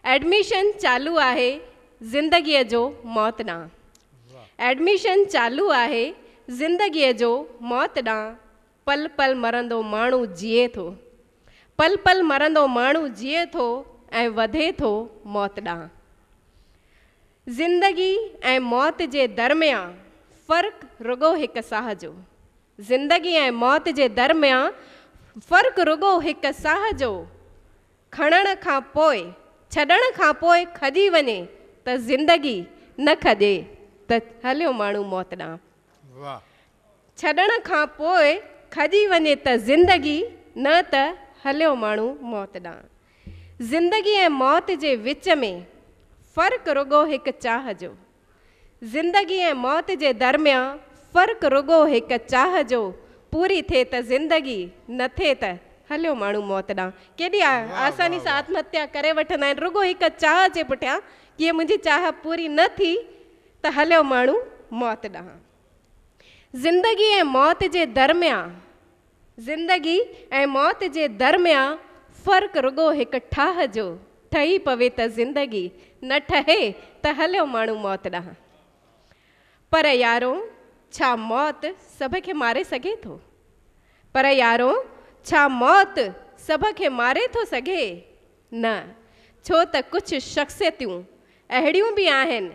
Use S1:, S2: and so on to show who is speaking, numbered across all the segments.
S1: Admission چالو آهي زندگيء جو موت ڏانهن ايڊميشن چالو آهي زندگيء جو موت ڏانهن پل پل مرندو ماڻهو جيئي ٿو پل پل مرندو ماڻهو جيئي ٿو ۽ وڌي ٿو موت ڏانهن زندگي ۽ موت جي درميان فرق رڳو هڪ ساهه جو زندگي ۽ موت جي درميان فرق رڳو هڪ ساهه جو. کڻڻ کان پوء، ڇڏڻ کان پوء کڄي وڃي ته زندگي، نه کڄي ته هليو ماڻهو موت ڏانهن. واهه. ڇڏڻ کان پوء کڄي وڃي ته زندگي، نه ته هليو ماڻهو موت ڏانهن. زندگي ۽ موت جي وچ ۾ فرق رڳو هڪ چاهه جو. زندگي ۽ موت جي درميان فرق رڳو هڪ چاهه جو، پوري ٿئي ته زندگي، نه ٿئي ته هليو ماڻهو موت ڏانهن. ڪيڏي آساني سان آتم هتيا ڪري وٺندا آهن، رڳو هڪ چاهه جي پٺيان، جي منهنجي چاهه پوري نه ٿي ته هليو ماڻهو موت ڏانهن. زندگي ۽ موت جي درميان. زندگي ۽ موت جي درميان فرق رڳو هڪ ٺاهه جو ٺهي پوي ته زندگي نه ٺهي ته هليو ماڻهو موت ڏانهن. پر يارو ڇا موت سڀ کي ماري سگهي ٿو؟ پر يارو ڇا موت سڀ کي ماري ٿو سگهي؟ نه، ڇو ته ڪجهه شخصيتون اهڙيون به آهن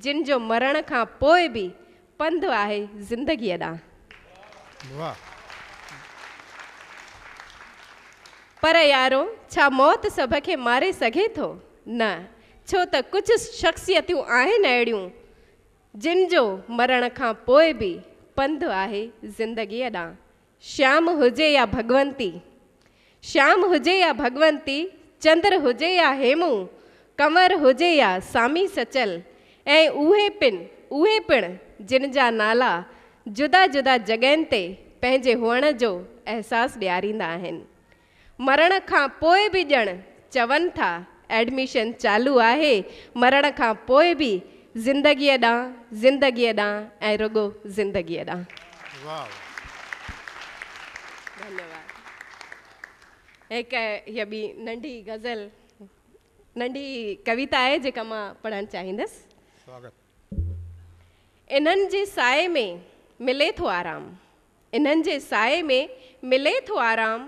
S1: جن جو مرڻ کان پوء به پنڌ آهي زندگيء ڏانهن. پر يارو، ڇا موت سڀ کي ماري سگهي ٿو؟ نه، ڇو ته ڪجهه شخصيتون آهن اهڙيون جن جو مرڻ کان پوء به پنڌ آهي زندگيء ڏانهن. شيام هجي يا ڀڳونتي، شيام هجي يا ڀڳونتي، چندر هجي يا هيمو، ڪنور هجي يا سامي سچل ۽ اهي پن اهي پڻ جن جا نالا جدا جدا جڳهين تي پنهنجي هئڻ جو احساس ڏياريندا آهن. مرڻ کان پوء به ڄڻ چون ٿا ايڊميشن چالو آهي، مرڻ کان پوء به زندگيء ڏانهن، زندگيء ڏانهن ۽ رڳو زندگيء ڏانهن. ڌنيواد. هڪ هيء ٻي ننڍي غزل، ننڍي ڪويتا آهي جيڪا مان پڙهڻ چاهيندس. سواگت. انهن جي سائي ۾ ملي ٿو آرام. انهن جي سائي ۾ ملي ٿو آرام،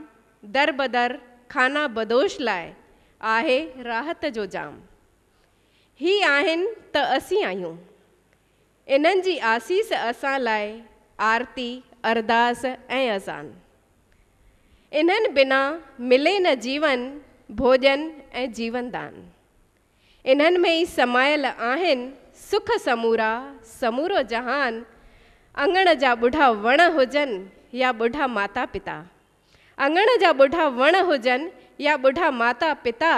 S1: در بدر خانه بدوش لاء آهي راحت جو جام. هي آهن ته اسين آهيون، انهن جي آسيس اسان لاء آرتي، ارداس ۽ اذان. انهن بنا ملي نه جيون، ڀوڄن ۽ جيون دان. انهن ۾ ئي سمايل آهن سک سمورا، سمورو جهان، اڱڻ جا ٻڍا وڻ هجن يا ٻڍا ماتا پتا. اڱڻ جا ٻڍا وڻ هجن يا ٻڍا ماتا پتا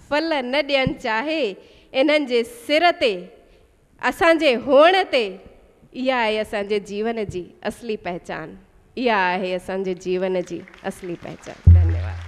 S1: ڦل نه ڏين چاهي انهن جي سر تي اسان جي هئڻ تي اها آهي اسان جي جيون جي اصلي پهچان اها آهي اسان جي جيون جي اصلي پهچان ڌنيواد.